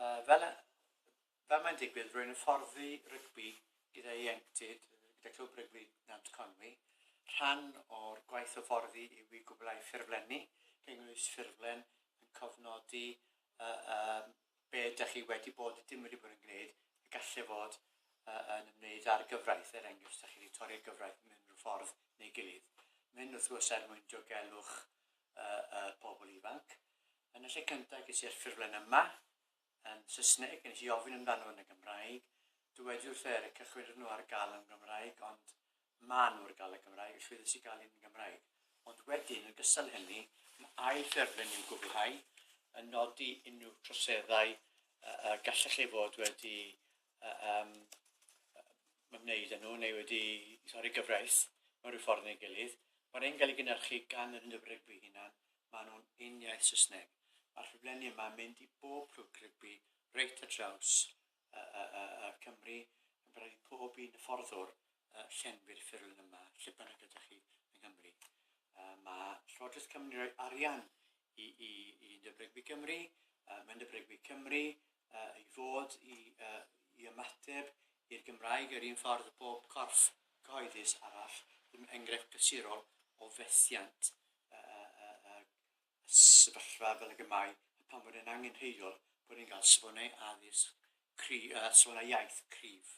Uh, fel, fel mae'n digwydd, rwy'n hyfforddi rygbi gyda ieuenctid, gyda Clwb Rygbi Nant Conwy. Rhan o'r gwaith hyfforddi yw i gwblhau ffurflenni, cynnwys ffurflen yn cofnodi uh, uh, be ydych chi wedi bod, dim wedi bod yn gwneud, y gallu fod uh, yn ymwneud â'r gyfraith, er enghraifft, ydych chi wedi torri'r gyfraith mewn unrhyw ffordd neu gilydd. Mynd wrth gwrs er mwyn diogelwch uh, uh, pobl ifanc. Yn y lle cyntaf, ges i'r ffurflen yma, yn Saesneg, yn i ofyn amdano yn y Gymraeg. Dywediwr wrth er y cychwyn nhw ar gael yn Gymraeg, ond Maen nhw ar gael y Gymraeg, y llwyddiant sy'n gael yn Gymraeg. Ond wedyn, yn gystal hynny, mae ail ffurflen i'w gwblhau, yn nodi unrhyw troseddau y gallech ei fod wedi um, ymwneud â nhw neu wedi torri gyfraith mewn rhyw ffordd neu gilydd. Mae'r ein gael ei gynnyrchu gan yr undeb rygbi hunan, maen nhw'n un iaith Saesneg. Mae'r ffurflenni yma yn mynd i bob clwb rygbi reit ar draws Cymru, yn parhau i bob un hyfforddwr llenwi'r ffurflen yma, lle bynnag ydych chi yng Nghymru. Mae Llywodraeth Cymru'n rhoi arian i, i, i Nyb Rygbi Cymru, mae Nyb Rygbi Cymru i fod i, i ymateb i'r Gymraeg yr un ffordd bob corff cyhoeddus arall, ddim enghraifft glasurol o fethiant y sefyllfa fel ag y mae a phan fod e'n angenrheidiol bod ni'n cael safonau addysg cry- uh, safonau iaith cryf.